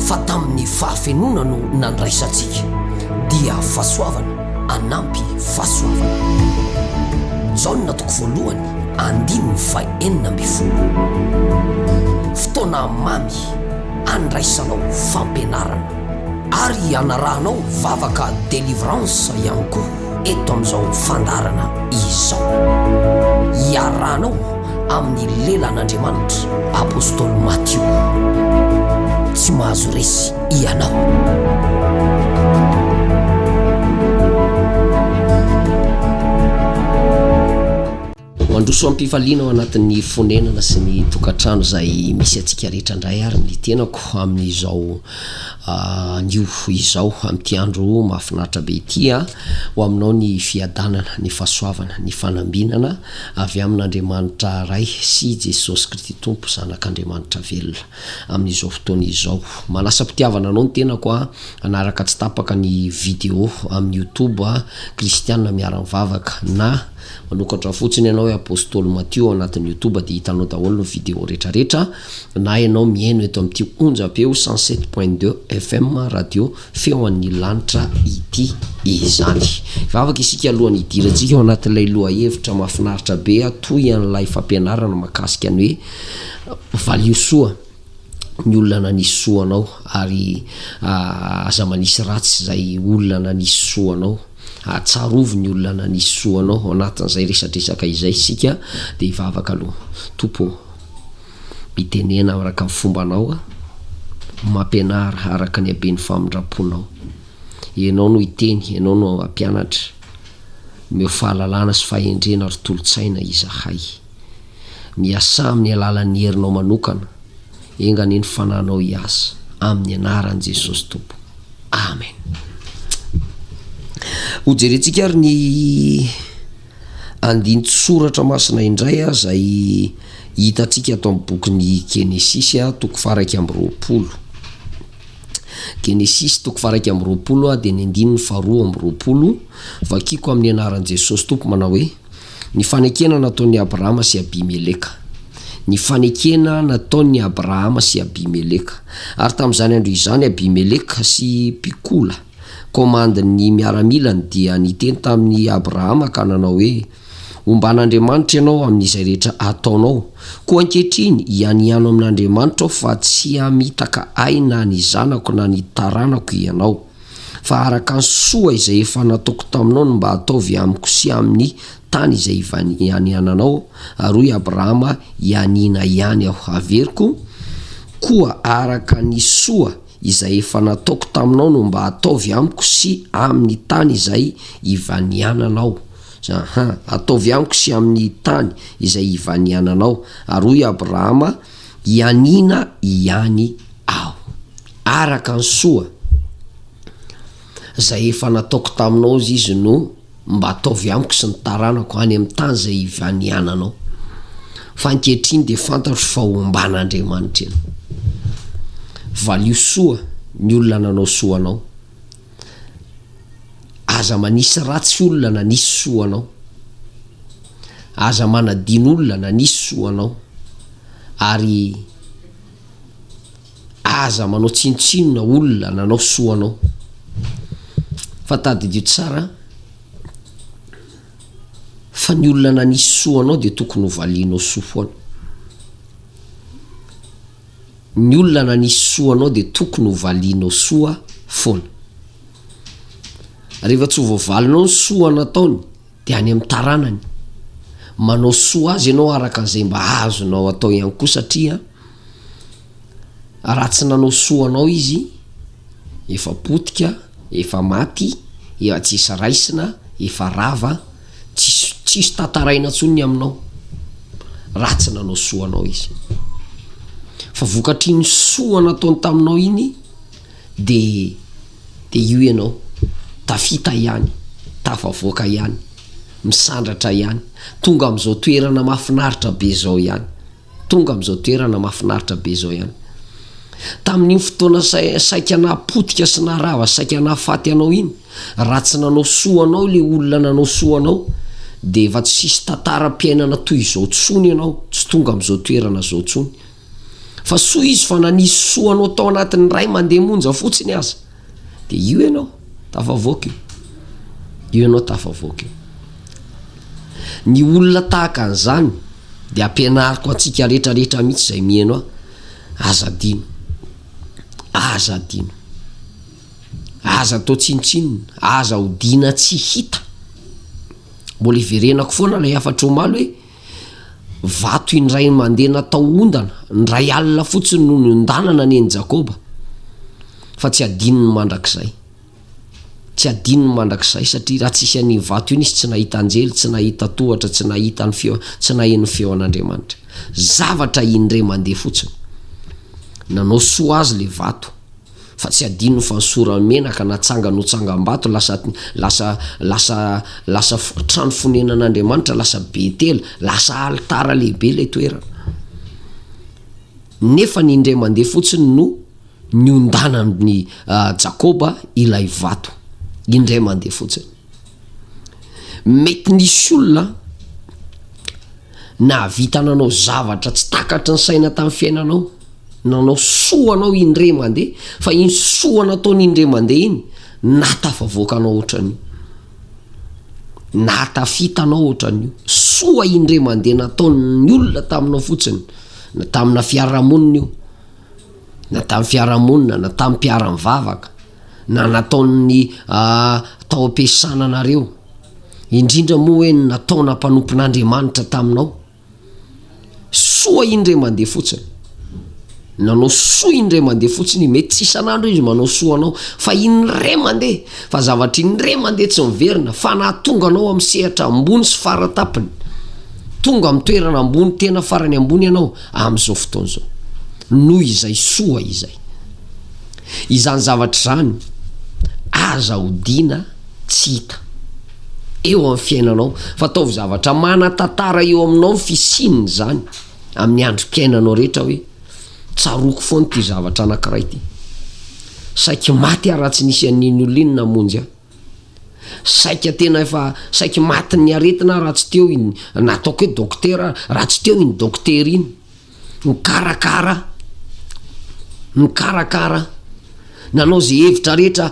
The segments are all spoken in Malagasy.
Fa tamin'ny fahafenoana no nandraisantsika, dia fahasoavana anampy fahasoavana. Jaona toko voalohany andininy faha enina ambin'ny folo. Fotoana mamy andraisanao fampianarana. Ary anarahanao vavaka delivrance ihany koa. eto amin'izao fandaharana izao. Iarahanao amin'ny lelan'Andriamanitra Apostoly Matio. Tsy mahazo resy ianao. Mandroso am-pifaliana ao anatin'ny fonenana sy ny tokantrano izay misy antsika rehetra indray ary ny tenako amin'izao anio izao amin'ity andro mahafinaritra be ity a ho aminao ny fiadanana ny fahasoavana ny fanambinana avy amin'Andriamanitra Ray sy Jesosy Kristy Tompo Zanak'Andriamanitra velona amin'izao fotoana izao manasam-pitiavana anao ny tenako a hanaraka tsy tapaka ny vidéo amin'ny youtube kristiana miara-mivavaka na Manokatra fotsiny ianao hoe Apostoly Matio ao anatin'ny youtube dia hitanao daholo ny video rehetra rehetra na ianao mihaino eto amin'ity onjam-peo cent sept point deux FM radio feo an'ny lanitra ity izany. Vavaka isika alohan'ny hidirantsika ao anatin'ilay lohahevitra mahafinaritra be toy an'ilay fampianarana makasika ny hoe valio soa ny olona nanisy soa anao ary ah, aza manisy ratsy izay olona nanisy soa anao. Ahatsiarovy ny olona nanisy soa anao ao anatin'izay resadresaka izay isika dia hivavaka aloha. Tompo ô, mitenena araka ny fombanao aho, mampianara araka ny haben'ny famindram-ponao. Ianao no hiteny, Ianao no hampianatra. Omeo fahalalana sy fahendrena ary tolo-tsaina izahay. Miasà amin'ny alalan'ny herinao manokana, enga anie ny fananao hiasa amin'ny anaran'i Jesosy Tompo. Amen. Ho jerentsika ary ny andinin-tsoratra masina indray izay hitantsika ato amin'ny bokin'ny Genesisy toko faraika amby roapolo. Genesisy toko faraika amby roapolo dia ny andininy faharoa amby roapolo, vakiko amin'ny anaran'i Jesosy Tompo manao hoe. Ny fanekena nataon'i Abrahama sy Abimeleka. Ny fanekena nataon'i Abrahama sy Abimeleka. Ary tamin'izany andro izany Abimeleka sy Pikola, komandin'ny miaramilany, dia niteny tamin'i Abrahama ka nanao hoe, Omban'Andriamanitra ianao amin'izay rehetra ataonao. Koa ankehitriny, hianiano amin'Andriamanitra aho fa tsy hamitaka ahy na ny zanako na ny taranako ianao. fa araka ny soa izay efa nataoko taminao no mba ataovy amiko sy amin'ny tany izay ivaniananao, ary hoy Abrahama, Hianiana ihany aho haveriko, koa araka ny soa izay efa nataoko taminao no mba ataovy amiko sy amin'ny tany izay ivaniananao. Aha, ataovy amiko sy amin'ny tany izay ivaniananao. Ary hoy Abrahama, Hianiana ihany aho, araka ny soa izay efa nataoko taminao izay izy no mba ataovy amiko sy ny taranako any amin'ny tany izay hivaniananao. Fa ankehitriny dia fantatro fa homba an'Andriamanitra ianao. Valio soa ny olona nanao soa anao. Aza manisy ratsy olona nanisy soa anao. Aza manadino olona nanisy soa anao. Ary aza manao tsinontsinona olona nanao soa anao. Fa tadidio tsara fa ny olona nanisy soa anao dia tokony hovalianao soa foana. Ny olona nanisy soa anao dia tokony ho valianao soa foana. Rehefa tsy voavalinao ny soa nataony dia any amin'ny taranany. Manao soa azy ianao araka izay mba azonao atao ihany koa satria raha tsy nanao soa anao izy efa potika, efa maty, efa tsisy raisina, efa rava. Tsisy tsisy tantaraina tsony ny aminao raha tsy nanao soa anao izy. Fa vokatr'iny soa nataony taminao iny de de io ianao tafita ihany, tafavoaka ihany, misandratra ihany, tonga am'zao toerana mahafinaritra be zao ihany. Tonga amin'izao toerana mahafinaritra be izao ihany. Tamin'iny fotoana saika nahapotika sy naharava saika nahafaty anao iny, raha tsy nanao soa anao ilay olona nanao soa anao, dia efa tsy hisy tantaram-piainana toy izao intsony ianao, tsy tonga amin'izao toerana izao intsony. Fa soa izy fa nanisy soa anao tao anatin'ny iray mandeha monja fotsiny aza. Dia io ianao tafavoaka io. Io ianao tafavoaka io. Ny olona tahaka an'izany dia ampianariko antsika rehetra rehetra mihitsy izay miheno ahy, aza adino. Aza adino. Aza atao tsinontsinona, aza odiana tsy hita. Mbola iverenako foana ilay hafatr'omaly hoe. Vato indray mandeha natao ondana, indray alina fotsiny no niondanana nen'i Jakoba, fa tsy hadinony mandrakizay. Tsy hadinony mandrakizay satria raha tsy hisy an'iny vato iny izy tsy nahita anjely, tsy nahita tohatra, tsy nahita ny feo, tsy naheno ny feo an'Andriamanitra. Zavatra indray mandeha fotsiny. Nanao soa azy le vato. Fa tsy adino fa ny sora-menaka natsangany ho tsangambato lasa lasa lasa lasa trano fonenan'Andriamanitra, lasa Betela, lasa alitara lehibe ilay toerana. Nefa ny indray mandeha fotsiny no niondanan'ny Jakoba ilay vato. Indray mandeha fotsiny. Mety nisy olona nahavita nanao zavatra tsy takatry ny saina tamin'ny fiainanao, nanao soa anao indray mandeha, fa iny soa nataony indray mandeha iny nahatafavoaka anao ohatran'io, nahatafita anao ohatran'io, soa indray mandeha nataon'ny olona taminao fotsiny, na tamina fiarahamonina io, na tamin'ny fiarahamonina, na tamin'ny mpiara-mivavaka. na nataon'ny tao am-piasana anareo, indrindra moa hoe ny nataona mpanompon'Andriamanitra taminao. Soa indray mandeha fotsiny. Nanao soa indray mandeha fotsiny, mety tsy isan'andro izy manao soa anao, fa indray mandeha, fa zavatra indray mandeha tsy miverina, fa nahatonga anao amin'ny sehatra ambony sy fara tampony, tonga amin'ny toerana ambony tena farany ambony ianao amin'izao fotoana izao. Noho izay soa izay. Izany zavatra izany aza hodiana tsy hita eo amin'ny fiainanao, fa ataovy zavatra manan-tantara eo aminao ny fisian'izany amin'ny androm-piainanao rehetra hoe, Tsaroako foana ity zavatra anankiray ity. Saiky maty aho raha tsy nisy an'iny olona iny namonjy ahy. Saika tena efa saiky matin'ny aretina aho raha tsy teo iny nataoko hoe dokotera aho, raha tsy teo iny dokotera iny. mikarakara mikarakara nanao ze hevitra rehetra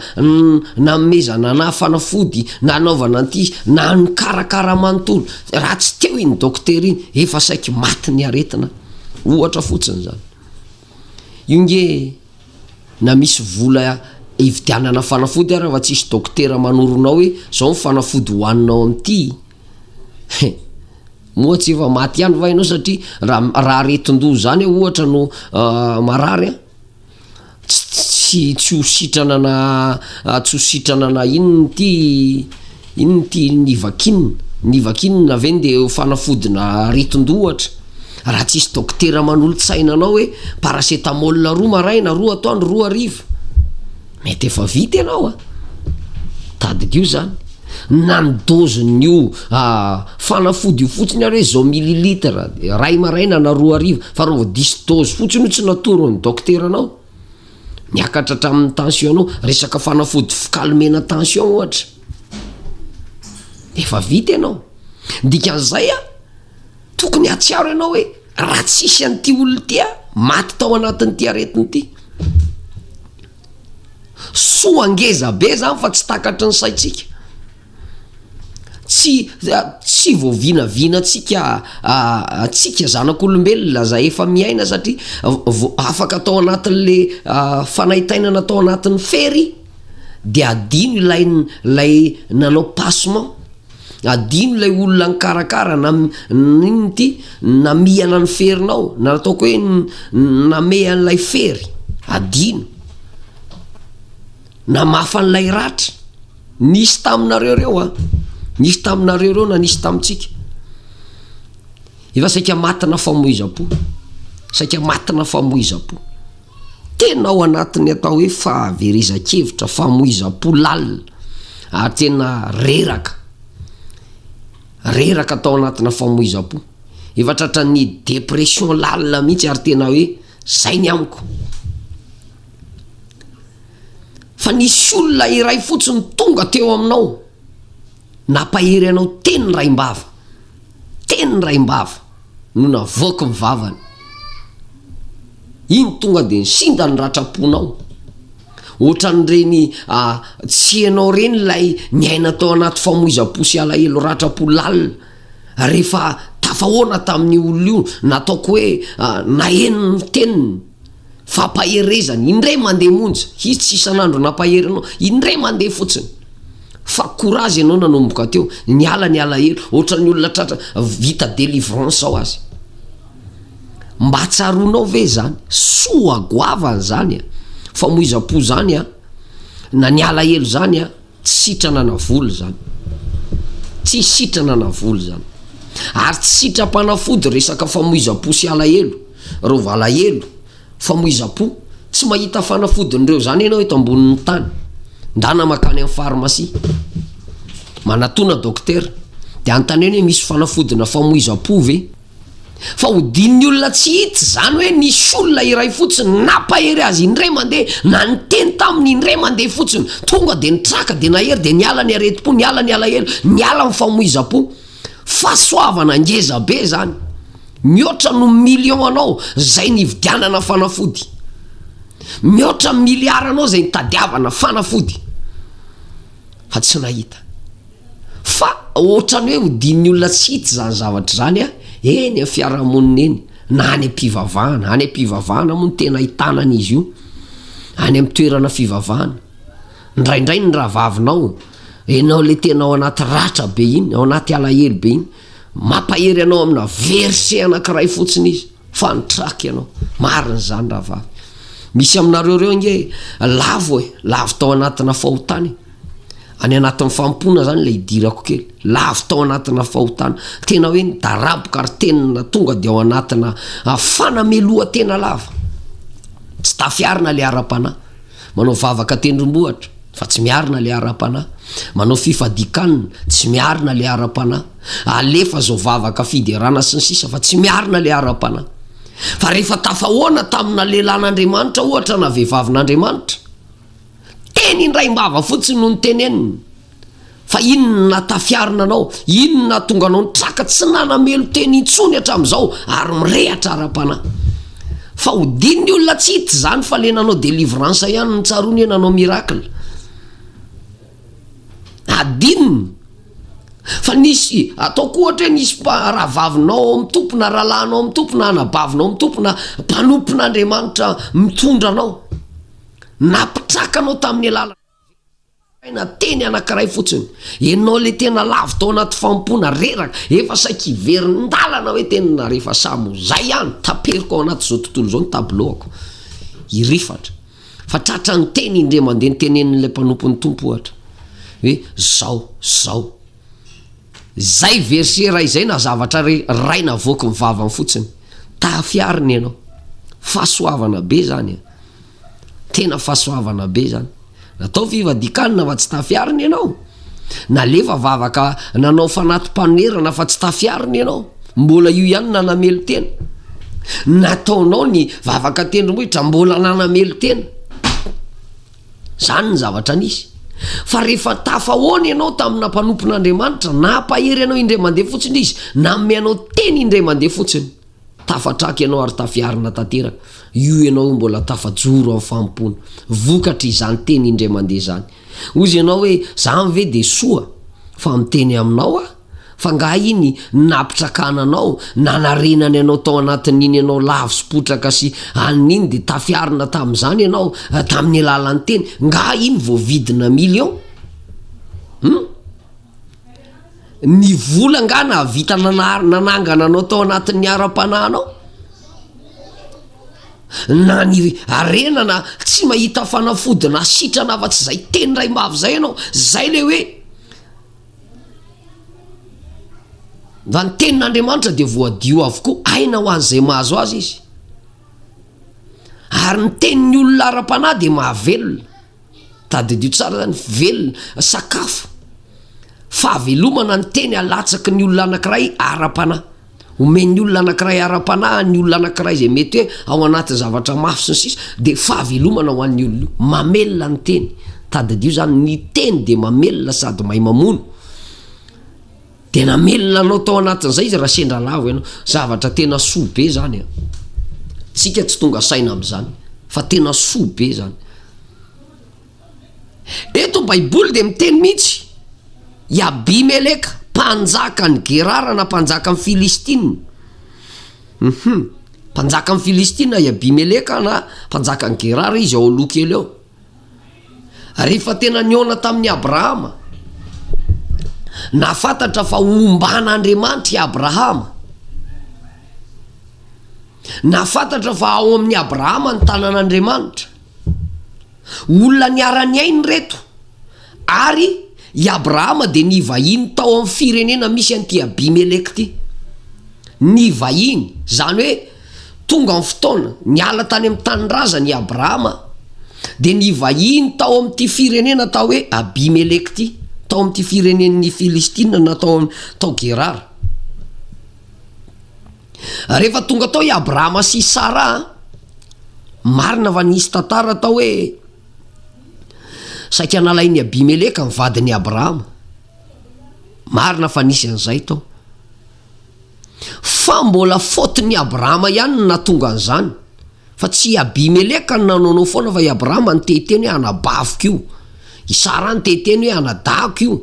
nanomezana anah fanafody nanaovana an'ity na nikarakara manontolo raha tsy teo iny doctera iny efa saiky maty ny aretina ohatra fotsiny zany io nge na misy vola hividianana fanafody ara fa tsisy doctera manoronao hoe zao ny fanafody hoaninao am'ity he Moa tsy efa maty ihany va ianao satria raha raha aretin-doha zany ohatra no marary an, tsy tsy ho sitrana na tsy ho sitrana na inona ity inona ity nivakinina nivakinina ve nde ho fanafodina aretin-doha ohatra, raha tsisy dokotera manolo-tsaina anao hoe paracetamol roa maraina roa atoandro roa hariva. Mety efa vita ianao a! Tadidio zany na ny dozin'io fanafody io fotsiny ary hoe zao mililitre ray maraina na roa hariva fa raha vao diso dozy fotsiny io tsy natoron'ny dokteranao miakatra hatramin'ny tension-nao, resaka fanafody fi-calmer-na tension ohatra, efa vita ianao, dikan'izay a. Tokony hahatsiaro ianao hoe raha tsy hisy an'ity olona ity aho maty tao anatin'ity aretina ity. Soa ngeza be zany fa tsy takatry ny saintsika. Tsy tsy voavinavinantsika antsika zanak'olombelona zay efa miaina satria vo- afaka tao anatin'le fanaintainana tao anatin'ny fery de adino ilay ilay nanao passement. Adino ilay olona nikarakara na n'inona ity namihana ny ferinao na ataoko hoe namehy an'ilay fery, adino, namafa an'ilay ratra, nisy taminareo ireo an, nisy taminareo ireo na nisy tamintsika, efa saika matina famoizam-po, saika matina famoizam-po. Tena ao anatin'ny atao hoe fahaverezan-kevitra, famoizam-po lalina ary tena reraka, reraka tao anatina famoizam-po. Efa tratran'ny dépression lalina mihitsy ary tena hoe zay ny amiko. Fa nisy olona iray fotsiny tonga teo aminao. Nampahery anao teny ny Raimbava. Teny ny Raimbava no navoaky ny vavany. Iny tonga dia nisinda ny ratram-ponao. Ohatran'ireny tsy ianao ireny ilay niaina tao anaty famoizam-po sy alahelo ratram-po lalina rehefa tafahoana tamin'io olona io, nataoko hoe naheno ny teniny. fampaherezana indray mandeha monja izy tsy isan'andro nampahery anao indray mandeha fotsiny fa courage ianao nanomboka teo niala ny alahelo ohatran'ny olona tratra vita délivrance ao azy mba tsaronao ve zany soa goavana zany a famoizam-po zany a na ny alahelo zany a Tsy sitrana na vola izany. Tsy sitrana na vola izany. Ary tsy sitram-panafody resaka famoizam-po sy alahelo, ireo valahelo, famoizam-po. Tsy mahita fanafodin'ireo izany ianao eto ambonin'ny tany. Ndana makany amin'ny pharmacie. Manatona dokotera. Dia anontaniany hoe misy fanafodina famoizam-po ve? fa hodin'ny olona tsy hita izany hoe nisy olona iray fotsiny nampahery azy indray mandeha na niteny taminy indray mandeha fotsiny tonga dia nitraka dia nahery dia niala ny aretim-po niala ny alahelo niala ny famoizam-po fahasoavana ngeza be izany mihoatra no million anao izay nividianana fanafody mihoatra miliara anao izay nitadiavana fanafody fa tsy nahita fa ohatrany hoe hodin'ny olona tsy hita zany zavatra zany a eny a fiarahamonina eny na any am-pivavahana any am-pivavahana moa ny tena hitanana izy io any ami'ny toerana fivavahana ndraindray ny rahavavinao enao le tenao anaty ratra be iny ao anaty alahelo be iny Mampahery anao amina verset anakiray fotsiny izy fa ny track ianao. Marina izany rahavavy. Misy aminareo reo ange lavo e, lavo tao anatina fahotana e. Any anatin'ny fampona zany ilay idirako kely. Lavo tao anatina fahotana. Tena hoe nidaraboka ary tenina tonga dia ao anatina fanamelohan-tena lava. Tsy tafiarina ilay ara-panahy. Manao vavaka tendrombohitra, fa tsy miarina ilay ara-panahy. Manao fifadian-kanina, tsy miarina ilay ara-panahy. Alefa izao vavaka fiderana sy ny sisa, fa tsy miarina ilay ara-panahy. Fa rehefa tafahoana tamina lehilahin'Andriamanitra, ohatra, na vehivavin'Andriamanitra, teny indraim-bava fotsiny no noteneniny. Fa inona no nahatafiarina anao? Inona no nahatonga anao nitraka tsy nanamelo-tena intsony hatramin'izao ary mirehatra ara-panahy? Fa hodino ny olona tsy hita izany fa ilay nanao délivrance ihany no tsaroany hoe nanao miracle. Hadino ny Fa nisy, ataoko ohatra hoe nisy mpa, rahavavinao ao amin'ny Tompo na rahalahinao ao amin'ny Tompo na anabavinao ao amin'ny Tompo na mpanompon'Andriamanitra mitondra anao, nampitraka anao tamin'ny alala. Asaina teny anankiray fotsiny. Enao le tena lavo tao anaty fanompoana reraka, efa saika hiverin-dalana hoe tena rehefa samy ho zay ihany, taperiko ao anaty zao tontolo zao ny tableau-ko. Hirifatra. Fa tratran'ny teny indray mandeha ny tenenin'ilay mpanompon'ny Tompo ohatra. Hoe zao, zao. Zay verset ray zay na zavatra re ray navoaky ny vavany fotsiny. Tahafiarina enao. Fahasoavana be zany e. Tena fahasoavana be zany. Natao fivadikanina fa tsy tafiarina ianao. Nalefa vavaka nanao fanati-panoherana fa tsy tafiarina ianao. Mbola io ihany nanamelo-tena. Nataonao ny vavaka tendrombohitra mbola nanamelo-tena. Zany ny zavatra nisy. Fa rehefa tafahoana ianao tamina mpanompon'Andriamanitra, nampahery anao indray mandeha fotsiny izy, nanome anao teny indray mandeha fotsiny. Tafatraka ianao ary tafiarina tanteraka, io ianao io mbola tafajoro amin'ny fanompoana, vokatry izany teny indray mandeha izany. Hozy ianao hoe, izany ve dia soa? Fa miteny aminao aho, fa nga iny napitrakana anao, nanarenany anao tao anatin'iny ianao lavo sy potraka sy alina iny dia tafiarina tamin'izany ianao tamin'ny alalan'ny teny, nga iny voavidina millions? Hum? Ny vola angaha nahavita nanary nanangana anao tao anatin'ny ara-panahinao? Na ny harena na tsy mahita fanafody na sitrana afa-tsy izay teny iray mafy izay ianao, izay ilay hoe mba ny tenin'Andriamanitra dia voadio avokoa, aina ho an'izay mahazo azy izy ary ny tenin'ny olona ara-panahy dia mahavelona. Tadidio tsara izany, velona, sakafo, fahavelomana ny teny alatsaky ny olona anankiray ara-panahy. Omen'ny olona anankiray ara-panahy ny olona anankiray izay mety hoe ao anatin'ny zavatra mafy sy ny sisa dia fahavelomana ho an'ny olona io. Mamelona ny teny, tadidio izany, ny teny dia mamelona sady mahay mamono. Dia namelona anao tao anatin'izay izy raha sendra lavo ianao. Zavatra tena soa be izany an! Tsika tsy tonga saina amin'izany fa tena soa be izany. Eto baiboly dia miteny mihitsy i Abimeleka mpanjaka an'i Gerara na mpanjaka an'i Filistina. Uhum. Mpanjaka an'i Filistina i Abimeleka na mpanjaka an'i Gerara izy ao aloha kely ao. Rehefa tena nihaona tamin'i Abrahama, nahafantatra fa homban'Andriamanitra i Abrahama. Nahafantatra fa ao amin'i Abrahama ny tanan'Andriamanitra. Olona niara-niaina ireto ary i Abrahama dia nivahiny tao amin'ny firenena misy an'ity Abimeleka ity. Nivahiny, izany hoe. Tonga ny fotoana, niala tany amin'ny tanindrazany i Abrahama, dia nivahiny tao amin'ity firenena atao hoe Abimeleka ity, tao amin'ity firenen'ny Filistina na tao tao Gerara. Rehefa tonga tao i Abrahama sy i Sara, marina fa nisy tantara atao hoe saika nalain'i Abimeleka ny vadin'i Abrahama, marina fa nisy an'izay tao. Fa mbola faute n'i Abrahama ihany no nahatonga an'izany, fa tsy i Abimeleka no nanaonao foana fa i Abrahama no te hiteny hoe anabaviko io, i Sara no te hiteny hoe anadahiko io,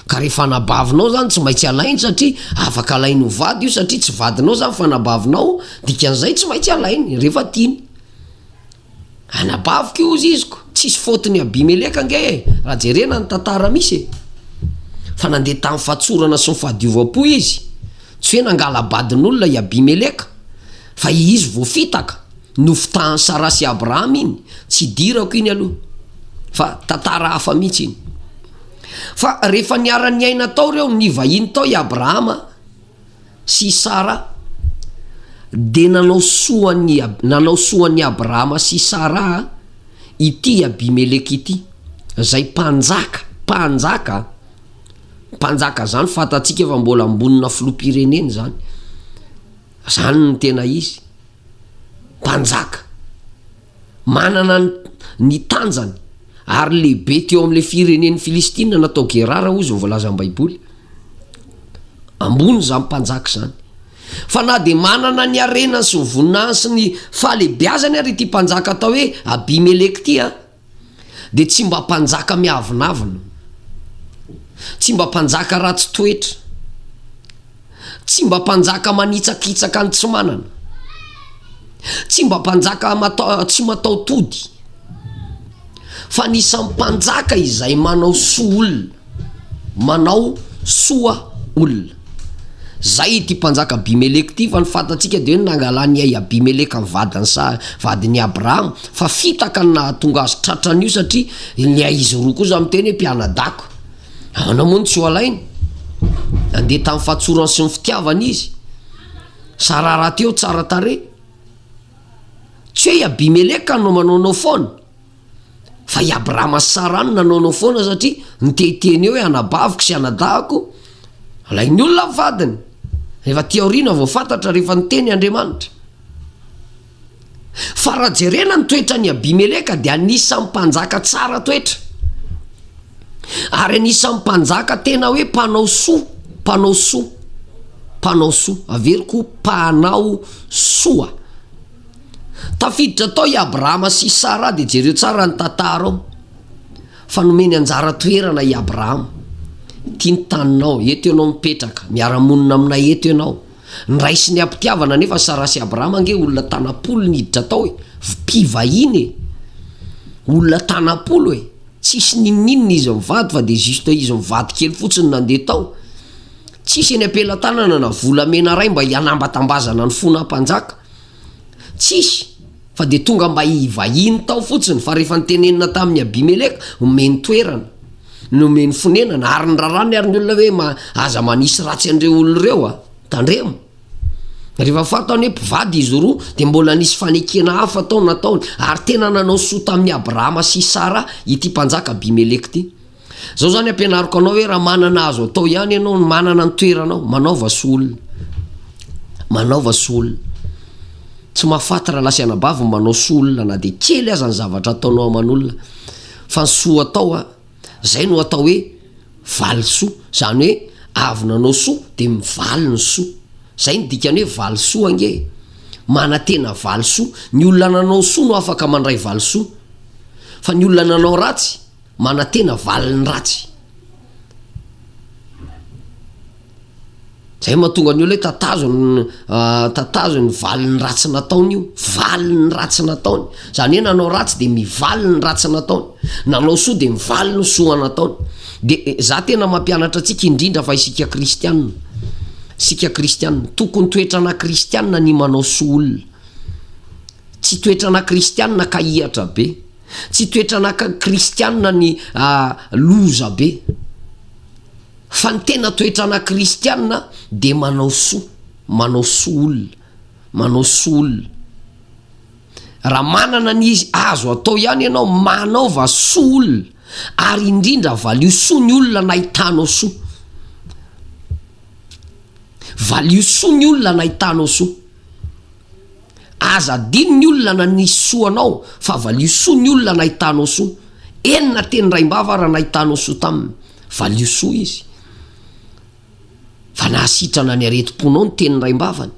ka rehefa anabavinao izany tsy maintsy alainy satria afaka alainy ho vady io satria tsy vadinao izany fa anabavinao, dikan'izay tsy maintsy alainy rehefa tiany. Anabaviko io hozy izy ko, tsisy faute ny Abimeleka ange e, raha jerena ny tantara misy e, fa nandeha tamin'ny fatsorana sy ny fahadiovam-po izy, tsy hoe nangala-badin'olona i Abimeleka, fa i izy voafitaka, nofitahan'i Sara sy Abraham iny, tsy idirako iny aloha, fa tantara hafa mihitsy iny. Fa rehefa niara-niaina tao reo, nivahiny tao i Abraham a. sy Sara, dia nanao soa an'i, nanao soa an'i Abrahama sy Saraha ity Abimeleka ity, izay mpanjaka, mpanjaka an, mpanjaka izany fantatsika fa mbola ambonina filoham-pirenena izany, izany no tena izy, mpanjaka. Manana ny tanjany ary lehibe teo amin'ilay firenen'ny Filistina natao Gerara hozy ny voalazan'ny Baiboly. Ambony izany mpanjaka izany. Fa na dia manana ny harenany sy ny voninahiny sy ny fahalehibiazany ary ity mpanjaka atao hoe Abimeleka ity, dia tsy mba mpanjaka miavonavona, tsy mba mpanjaka ratsy toetra. Tsy mba mpanjaka manitsakitsaka ny tsy manana. Tsy mba mpanjaka tsy mataho-tody. Fa anisan'ny mpanjaka izay manao soa olona. Manao soa olona. Izay ity mpanjaka Abimeleka ity, fa ny fantatsika dia hoe nangalan'i Abimeleka ny vadin'i Sa- vadin'i Abrahama, fa fitaka ny nahatonga azy tratra an'io satria ilay izy roa kosa miteny hoe mpianadahy ko. Ahoana moa no tsy ho alainy? Nandeha tamin'ny fahatsorany sy ny fitiavana izy. Sara rahateo tsara tarehy. Tsy hoe i Abimeleka no manaonao foana fa i Abrahama sy Sara no nanaonao foana satria niteny hoe anabaviko sy anadahako alain'ny olona ny vadiny. Efa aty aoriana vao fantatra rehefa niteny Andriamanitra. Fa raha jerena ny toetran'i Abimeleka dia anisan'ny mpanjaka tsara toetra ary anisan'ny mpanjaka tena hoe mpanao soa, mpanao soa, mpanao soa, averiko ho mpanao soa. Tafiditra tao i Abrahama sy i Sara dia jereo tsara ny tantara ao fa nomeny anjara toerana i Abrahama, ity ny taninao, eto ianao mipetraka, miara-monina aminay eto ianao. Ndraisin'i Abitiavana anefa Sara sy Abraham ange olona tanam-polo niditra tao e! mpivahiny e! olona tanam-polo e! tsisy ninoninona izy mivady fa de juste izy mivady kely fotsiny nandeha tao, tsisy eny am-pelatanana na volamena iray mba hianambatambazana ny fonam-panjaka, tsisy, Fa dia tonga mba hivahiny tao fotsiny, fa rehefa nitenenina tamin'i Abimeleka, omeny toerana, nomeny fonenana, ary niraràny àry ny olona hoe, Ma, aza manisy ratsy an'ireo olona ireo a! Tandremo! Rehefa fantany hoe mpivady izy roa, dia mbola nisy fanekena hafa tao nataony, ary tena nanao soa tamin'i Abrahama sy i Saraha ity mpanjaka Abimeleka ity. Zao zany ampianariko anao hoe raha manana azo atao ihany ianao no manana ny toeranao, manaova soa olona. Manaova soa olona. Tsy mahafaty rahalahy sy anabavy ny manao soa olona na dia kely aza ny zavatra ataonao aman'olona fa ny soa atao a, zay no atao hoe valisoa, zany hoe avy nanao soa dia mivaly ny soa. Zay no dikan'ny hoe valisoa ange e, manantena valisoa, ny olona nanao soa no afaka mandray valisoa fa ny olona nanao ratsy, Manantena valin'ny ratsy. Zay mahatonga ny olona hoe tatazo ny tatazo ny valin'ny ratsy nataony io, valin'ny ratsy nataony. Zany hoe nanao ratsy de mivaly ny ratsy nataony, nanao soa de mivaly ny soa nataony. De za tena mampianatra antsika indrindra fa isika kristianina, isika kristianina, tokony toetrana kristianina ny manao soa olona, tsy toetrana kristianina ka hihatra be. Tsy toetranaka kristiana ny loza be. Fa ny tena toetrana kristiana dia manao soa, manao soa olona, manao soa olona. Raha manana ny azo atao ihany ianao, manaova soa olona, ary indrindra valio soa ny olona nahitanao soa. Valio soa ny olona nahitanao soa. Aza adino ny olona nanisy soa anao fa valio soa ny olona nahitanao soa. Enina teny raim-bava ary nahitanao soa taminy. Valio soa izy. Fa nahasitrana ny aretim-ponao ny teny raim-bavany.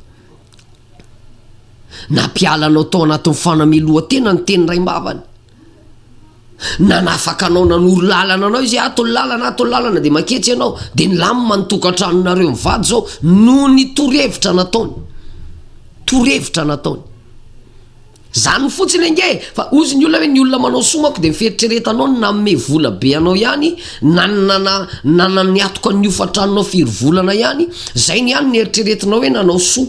Nampiala anao tao anatin'ny fanamelohan-tena ny teny raim-bavany. Nanafaka anao nanoro lalana anao izy hoe ato ny lalana ato ny lalana dia maketsy ianao dia nilamina ny tokantranonareo mivady izao noho ny torohevitra nataony torohevitra nataony zany fotsiny ange fa ozy ny olona hoe ny olona manao soa manko dia ny fieritreretanao ny nanome vola be anao ihany na ny nana nana ny atoka ny hofan-tranonao firy volana ihany izay ny ihany ny eritreretinao hoe nanao soa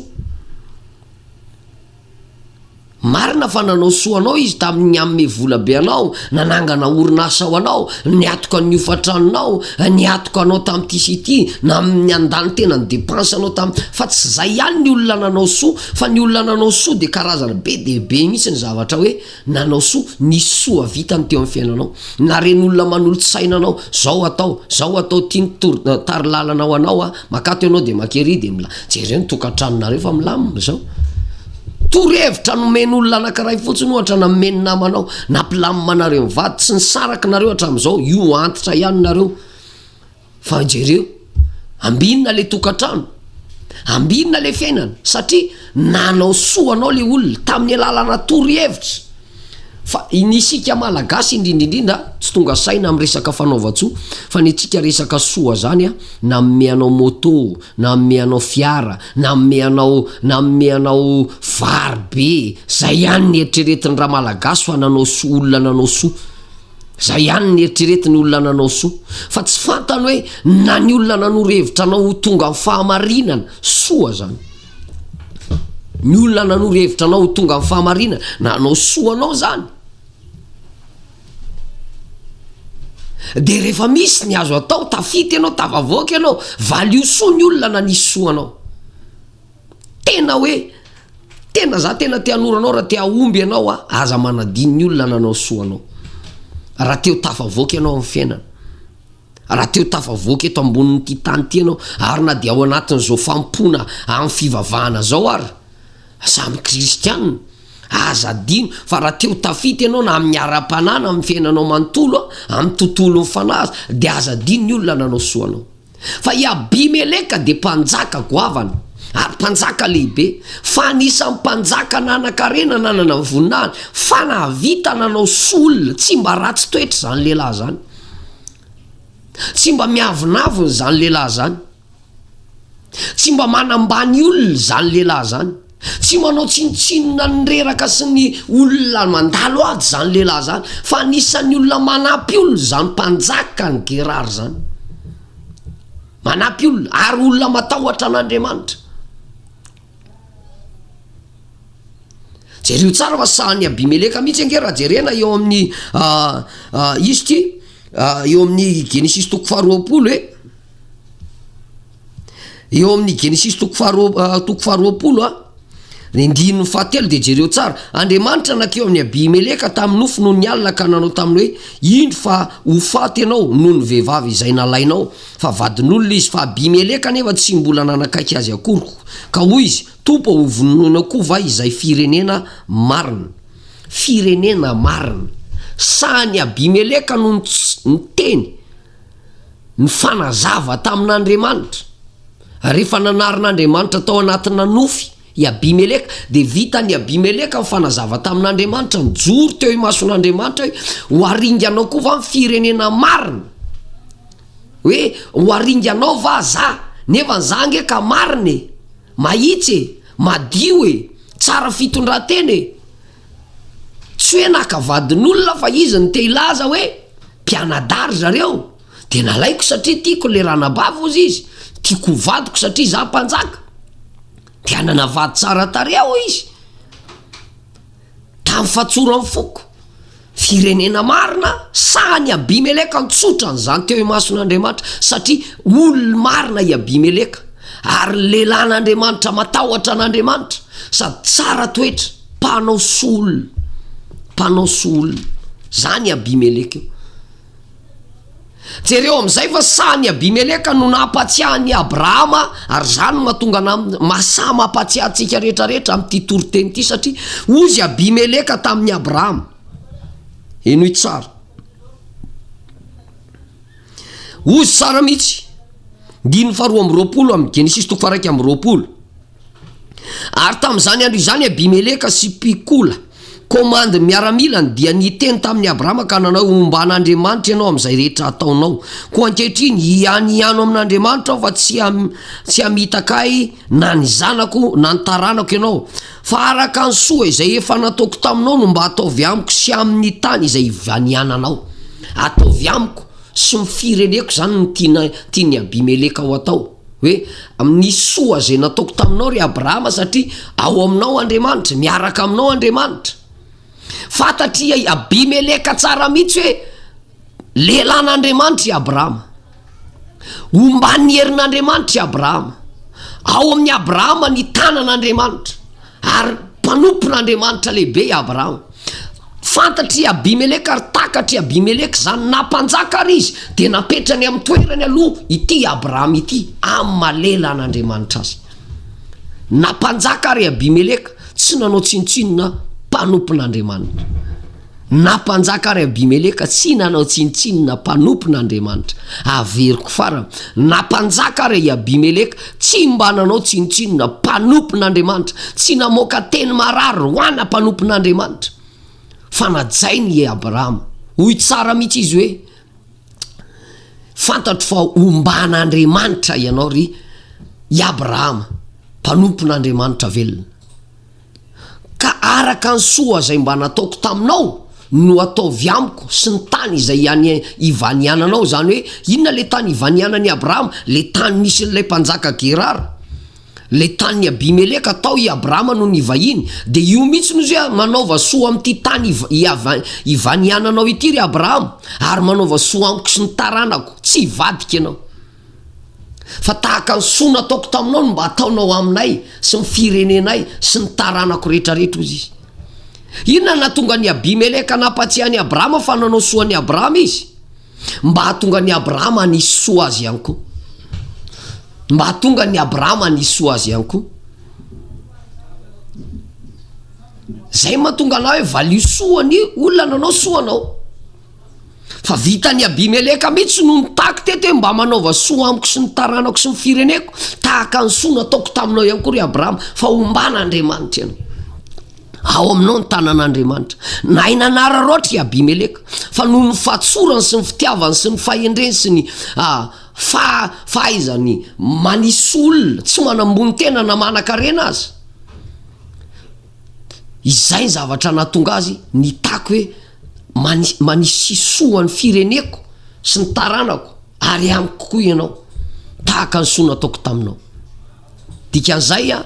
Marina fa nanao soa anao izy tamin'ny nanome vola be anao, nanangana orinasa ho anao, niatoka ny hofan-tranonao, niatoka anao tamin'ity sy ity, na nandany tena ny depense-nao tamin'ny. Fa tsy izay ihany ny olona nanao soa, fa ny olona nanao soa dia karazany be dia be mihitsy ny zavatra hoe. Nanao soa, nisy soa vitany teo amin'ny fiainanao. Naren'olona manolo-tsaina anao, zao atao, zao atao, ty ny tor, tari-lalana ho anao a, makato ianao dia maka ery dia mila, jereo ny tokantranonareo fa milamina zao. Torohevitra nomen'olona anankiray fotsiny ohatra na nomen'ny namanao, nampilamina anareo mivady, tsy nisaraky nareo hatramin'izao, io antitra ihany nareo. Fa jereo, ambinina le tokantrano, ambinina le fiainana satria nanao soa anao le olona tamin'ny alalana torohevitra fa ny isika malagasy indrindra indrindra tsy tonga saina amin'ny resaka fanaovan-tsoa fa ny antsika resaka soa zany a nanome anao moto, nanome anao fiara, nanome anao nanome anao vary be, zay ihany ny eritreretin'ny ramalagasy fa nanao soa, olona nanao soa. Izay ihany ny eritreretin'ny olona nanao soa, fa tsy fantany hoe na ny olona nanoro hevitra anao ho tonga amin'ny fahamarinana, soa izany. Ny olona nanoro hevitra anao ho tonga amin'ny fahamarinana, nanao soa anao izany. Dia rehefa misy ny azo atao, tafita ianao, tafavoaka ianao, valio soa ny olona nanisy soa anao. Tena hoe tena za tena te hanoro anao raha te hahomby ianao a, aza manadino ny olona nanao soa anao. Raha te ho tafavoaka ianao amin'ny fiainana, raha te ho tafavoaka eto ambonin'ity tany ity ianao, ary na dia ao anatin'izao fanompoana amin'ny fivavahana izao ary, samy kristiana, aza adino fa raha te ho tafita ianao na amin'ny ara-panahy na amin'ny fiainanao manontolo a, amin'ny tontolon'ny fanahy aza, dia aza adino ny olona nanao soa anao. Fa i Abimeleka dia mpanjaka goavana ary mpanjaka lehibe, fa anisan'ny mpanjaka nanan-karena nanana ny voninahiny, fa nahavita nanao soa olona, tsy mba ratsy toetra izany lehilahy izany. Tsy mba miavonavona izany lehilahy izany. Tsy mba manambany olona izany lehilahy izany. Tsy manao tsinontsinona ny reraka sy ny olona mandalo ady izany lehilahy izany fa anisan'ny olona manampy olona izany mpanjakan'i Gerara izany. Manampy olona ary olona matahotra an'Andriamanitra. Jereo tsara fa sahan'i Abimeleka mihitsy ange raha jerena eo amin'ny uh, uh, izy ity uh, eo amin'ny Genesis toko faharoapolo hoe Eo amin'ny Genesisy toko faharoa toko faharoapolo a, ny andininy fahatelo dia jereo tsara, Andriamanitra nankeo amin'i Abimeleka tamin'ny nofy noho ny alina ka nanao taminy hoe, Indro fa ho faty ianao noho ny vehivavy izay nalainao, fa vadin'olona izy, fa Abimeleka anefa tsy mbola nanakaiky azy akory, ka hoy izy, Tompo ô, hovonoina koa va izay firenena marina? Firenena marina! Sahin'i Abimeleka no niteny. nifanazava tamin'Andriamanitra. Rehefa nanarin'Andriamanitra tao anatina nofy i Abimeleka, dia vitan'i Abimeleka nifanazava tamin'Andriamanitra, nijoro teo imason'Andriamanitra hoe, Ho haringanao koa va ny firenena marina? Hoe ho haringanao va za? Nefa ny za ange ka marina e! Mahitsy e! Madio e! Tsara fitondran-tena e! Tsy hoe naka vadin'olona fa izy no te hilaza hoe mpianadahy ry zareo dia nalaiko satria tiako ilay ranabavy hozy izy, tiako ho vadiko satria izaho mpanjaka dia hanana vady tsara tarehy aho izy tamin'ny fatsoran'ny foko, firenena marina saha ny Abimeleka nitsotra an'izany teo imason'Andriamanitra satria olony marina i Abimeleka ary lehilahin'Andriamanitra matahotra an'Andriamanitra sady tsara toetra. mpanao soa olona, mpanao soa olona, zany Abimeleka io. Jereo amin'izay fa sahan'i Abimeleka no nampatsiahy an'i Abrahama ary izany no mahatonga anà mahasahy mampatsiahy antsika rehetra rehetra amin'ity toriteny ity satria hoy izy Abimeleka tamin'i Abrahama, henoy tsara, hoy izy tsara mihitsy, andininy faharoa amby roapolo amin'ny Genesisy toko faharaika amby roapolo. Ary tamin'izany andro izany Abimeleka sy Pikola, komandin'ny miaramilany, dia niteny tamin'i Abrahama ka nanao hoe, Homba an'Andriamanitra ianao amin'izay rehetra ataonao. Koa ankehitriny, hianiano amin'Andriamanitra aho fa tsy tsy hamitaka ahy na ny zanako na ny taranako ianao, fa araka ny soa izay efa nataoko taminao no mba ataovy amiko sy amin'ny tany izay ivaniananao. Ataovy amiko sy ny fireneko izany no tiana tian'i Abimeleka ho atao. Hoe, Nisoa izay nataoko taminao, ry Abrahama, satria ao aminao Andriamanitra, miaraka aminao Andriamanitra. Fantatr' i Abimeleka tsara mihitsy hoe lehilahin' Andriamanitra i Abrahama. Omban' ny herin' Andriamanitra i Abrahama. Ao amin' i Abrahama ny tanan' Andriamanitra. Ary mpanompon'Andriamanitra lehibe i Abrahama. Fantatr'i Abimeleka ary takatr'i Abimeleka izany. Na mpanjaka àry izy, dia napetrany amin'ny toerany aloha ity i Abrahama ity, amin'ny maha-lelan'Andriamanitra azy. Na mpanjaka àry i Abimeleka, tsy nanao tsinontsinona mpanompon'Andriamanitra. Na mpanjaka ary Abimeleka tsy nanao tsinontsinona mpanompon' Andriamanitra. Averiko farany, na mpanjaka ary i Abimeleka tsy mba nanao tsinontsinona mpanompon' Andriamanitra, tsy namoaka teny marary ho ana mpanompon' Andriamanitra. Fanajainy i Abrahama. Hoy tsara mihitsy izy hoe, Fantatro fa omban' Andriamanitra ianao, ry i Abrahama, mpanompon' Andriamanitra velona. Ka araka ny soa izay mba nataoko taminao no ataovy amiko sy ny tany izay ianiananao, izany hoe, inona ilay tany ivanianan'i Abrahama? ilay tany nisy an'ilay mpanjaka Gerara, ilay tanin'i Abimeleka, tao i Abrahama no nivahiny, dia io mihitsy no izy hoe, manaova soa amin'ity tany ivaniananao ity ry Abrahama, ary manaova soa amiko sy ny taranako, tsy hivadika ianao. Fa tahaka ny soa nataoko taminao no mba ataonao aminay sy ny firenenay sy ny taranako rehetrarehetra, hoy izy. Inona no nahatonga an'i Abimeleka nampahatsiahy an'i Abrahama fa nanao soa an'i Abrahama izy? Mba hahatonga an'i Abrahama hanisy soa azy ihany koa. Mba hahatonga an'i Abrahama hanisy soa azy ihany koa. Zay mahatonga anao hoe valio soa ny olona nanao soa anao. Fa vitan'i Abimeleka mihitsy no nitaky teto hoe mba manaova soa amiko sy ny taranako sy ny fireneko, tahaka ny soa nataoko taminao ihany koa ry Abrahama, fa ombana Andriamanitra ianao. Ao aminao ny tanan'Andriamanitra. Nahay nanararaotra i Abimeleka, fa noho ny fahatsorany sy ny fitiavany sy ny fahendreny sy ny ah, fa, fahaizany manisy olona, tsy manambony tena na manan-karena aza. izay ny zavatra nahatonga azy nitaky hoe mani manisihi soa ny fireneko sy ny taranako ary amiko koa ianao tahaka ny soa nataoko taminao dikan'izay an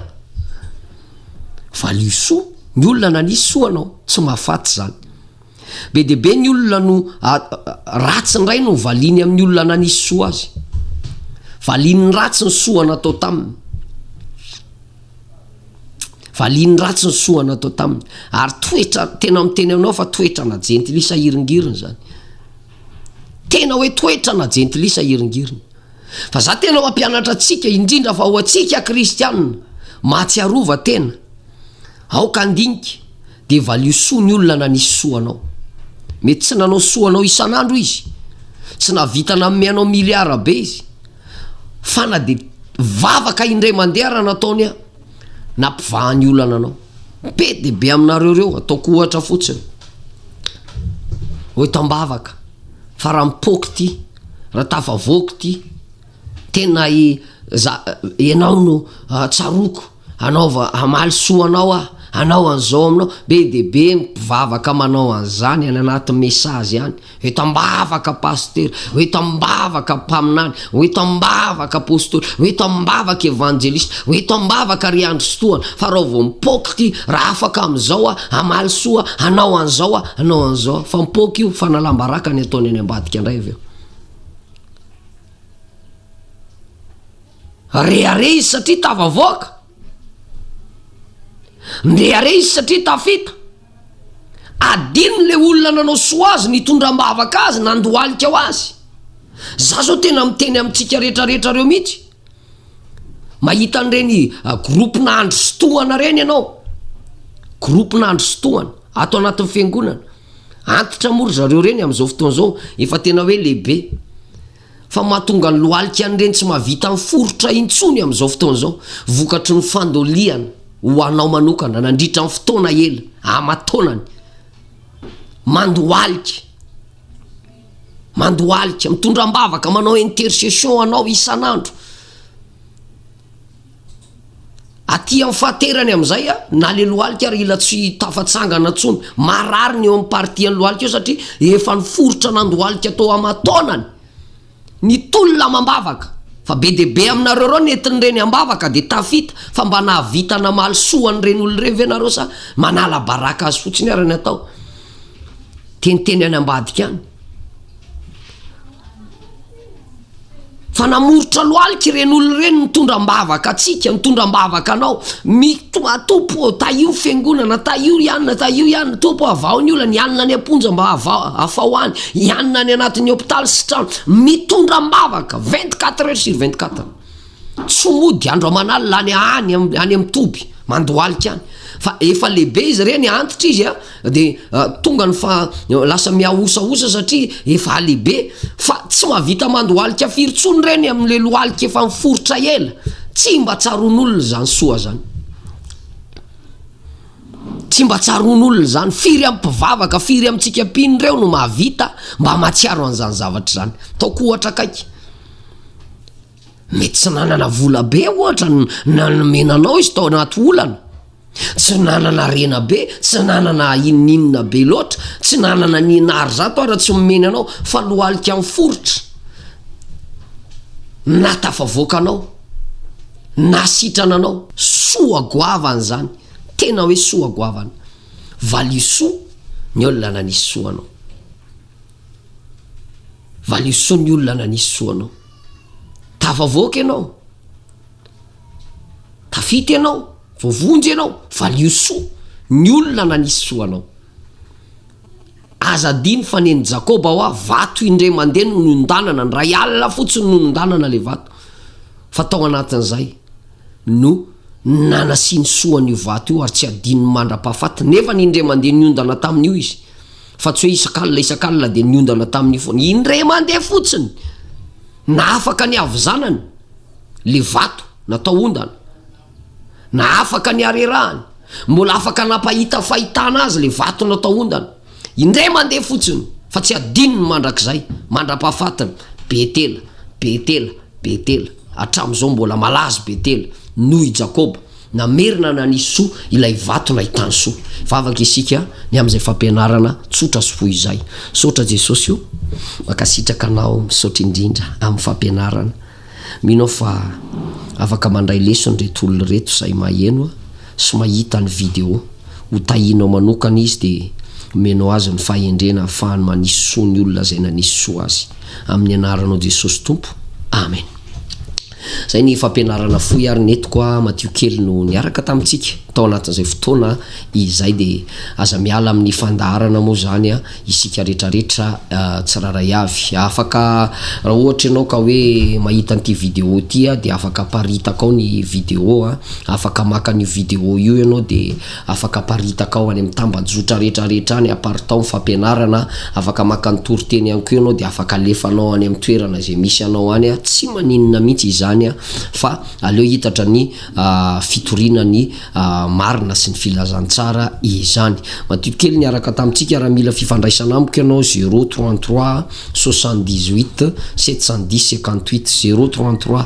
valio soa ny olona nanisy soa anao tsy mahafaty izany be dia be ny olona no a ratsy indray no valiany amin'ny olona nanisy soa azy valian'ny ratsy ny soa natao taminy Valiany ratsy ny soa natao taminy. Ary toetra, tena miteny aminao fa toetrana jentilisa hiringiriny zany. Tena hoe toetrana jentilisa hiringiriny. Fa za tena mampianatra antsika, indrindra fa ho antsika kristianina, mahatsiarova tena. Aoka handinika. dia valio soa ny olona nanisy soa anao. Mety tsy nanao soa anao isan'andro izy, tsy nahavita nanome anao miliara be izy, fa na dia vavaka indray mandeha ara nataony aho, nampivahany olana anao. Be dia be aminareo ireo, ataoko ohatra fotsiny. Hoy tambavaka, fa raha mipoaka ity, raha tafavoaka ity, tena i, za, ianao no ah, tsaroko. Anaova hamaly soa anao aho, hanao an'izao aminao, be dia be ny mpivavaka manao an'izany any anaty message any, ho eto am-bavaka Pasitera, ho eto am-bavaka Mpaminany, ho eto am-bavaka Apostoly, ho eto am-bavaka Evanjelista, ho eto am-bavaka ry andristohana, fa raha vao mipoaka ity, raha afaka amin'izao aho, hamaly soa, hanao an'izao aho, hanao an'izao aho, fa mipoaka io, fanalam-baraka ny ataony any ambadika indray avy eo. Rehareha izy satria tafavoaka. Nrehareha izy satria tafita. Adino ilay olona nanao soa azy, nitondra am-bavaka azy, nandohalika ho azy. Izaho izao tena miteny amintsika rehetrarehetra ireo mihitsy. Mahita an'ireny gropona andry sy tohana ireny ianao, gropona andry sy tohana ato anatin'ny fiangonana. Antitra moa ry zareo ireny amin'izao fotoana izao, efa tena hoe lehibe. fa mahatonga ny lohalika an'ireny tsy mahavita miforitra intsony amin'izao fotoana izao, vokatry ny fandoliana ho anao manokana nandritra ny fotoana ela aman-taonany. Mandohalika, mandohalika, mitondra am-bavaka, manao intercession ho anao isan'andro. Aty amin'ny fahaterany amin'izay a, na le lohalika ary ila tsy tafatsangana intsony. Marary ny eo amin'ny partie an'ny lohalika eo satria efa niforitra nandohalika tao aman-taonany ny tolona amam-bavaka, fa be dia be aminareo ireo nentin'ireny am-bavaka dia tafita, fa mba nahavita namaly soa an'ireny olona ireny ve nareo sa manala baraka azy fotsiny ary ny atao? Teniteny any ambadika any. Fa namoritra lohalika ireny olona ireny nitondra am-bavaka antsika, nitondra am-bavaka anao. Mitoa Tompo ô, tahio ny Fiangonana, tahio i anona, tahio i anona. Tompo ô, avaho ny olana, i anona any am-ponja mba avaho, afaho any, i anona any anatin'ny hôpitaly sy trano. Mitondra am-bavaka, vingt quatre heures sur vingt quatre. tsy mody andro aman'alina any any any amin'ny toby mandohalika any fa efa lehibe izy ireny antitra izy a de tonga ny fa lasa mihahosahosa satria efa lehibe fa tsy mahavita mandohalika firy tsony ireny amin'le lohalika efa miforitra ela tsy mba tsaron'olona izany soa zany tsy mba tsaron'olona zany firy amin'ny mpivavaka firy amintsika mpino ireo no mahavita mba mahatsiaro an'izany zavatra izany taoko ohatra akaiky Mety tsy nanana vola be ohatra no nanomena anao izy tao anaty olana, tsy nanana harena be, tsy nanana inon'inona be loatra, tsy nanana ny ina ary zato ary tsy nomeny anao fa lohalika miforitra na tafavoaka anao na sitrana anao. Soa goavana zany, tena hoe soa goavana. Valisoa ny olona nanisy soa anao. Valio soa ny olona nanisy soa anao. Tafavoaka ianao. Tafita ianao, voavonjy ianao, valio soa ny olona nanisy soa anao. Aza adino fa nen'i Jakoba hoa vato indray mandeha no niondanana, ny ray alina fotsiny no niondanana ilay vato. Fa tao anatin'izay no nanasiany soa an'io vato io ary tsy adinony mandra-pahafatiny nefa ny indray mandeha niondana tamin'io izy. Fa tsy hoe isak'alina isak'alina dia niondana tamin'io foana. Indray mandeha fotsiny, nahafaka ny havizanany ilay vato natao ondana. Nahafaka ny harerahany. Mbola afaka nampahita fahitana azy ilay vato natao ondana. Indray mandeha fotsiny, fa tsy hadinony mandrakizay, mandra-pahafatiny. Betela, Betela, Betela. Hatramin'izao mbola malaza i Betela, noho i Jakoba. Namerina nanisy soa ilay vato nahitany soa. Hivavaka isika ny amin'izay fampianarana tsotra sy fohy izay. Misaotra Jesosy o! Mankasitraka anao, misaotra indrindra amin'ny fampianarana. Mino aho fa afaka mandray lesona ireto olona ireto izay maheno sy mahita ny video. Ho tahinao manokana izy dia omenao azy ny fahendrena ahafahany manisy soa ny olona izay nanisy soa azy. Amin'ny anaranao Jesosy Tompo, Amen. Izay ny fampianarana fohy ary nentiko a Matio kely no niaraka tamintsika tao anatin'izay fotoana izay de aza miala amin'ny fandaharana moa izany a isika retraretra tsirairay avy afaka raha ohatra ianao ka hoe mahita an'ity video ity a de afaka aparitakao ny video a afaka maka an'io video io ianao de Afaka aparitaka ao any amin'ny tambajotra rehetrarehetra any, aparitao ny fampianarana, afaka maka ny toriteny ihany koa ianao dia afaka alefanao any amin'ny toerana izay misy anao any, tsy maninona mihitsy izany fa aleo hitatra ny fitoriana ny marina sy ny filazantsara izany. Madio kely niaraka tamintsika raha mila fifandraisana amiko ianao, zero trente trois soixante dix huit sept cent dix cinquante huit, zero trente trois.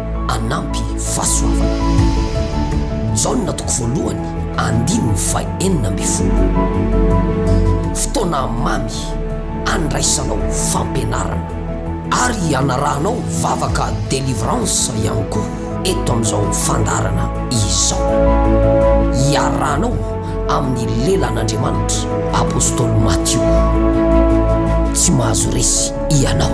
hanampy fahasoavana. Jaona toko voalohany andininy faha enina ambin'ny folo. Fotoana mamy handraisanao fampianarana ary hanarahanao vavaka delivrance ihany koa eto amin'izao fandaharana izao. Iarahanao. amin'ny lelan'Andriamanitra. Apostoly Matio, tsy mahazo resy ianao.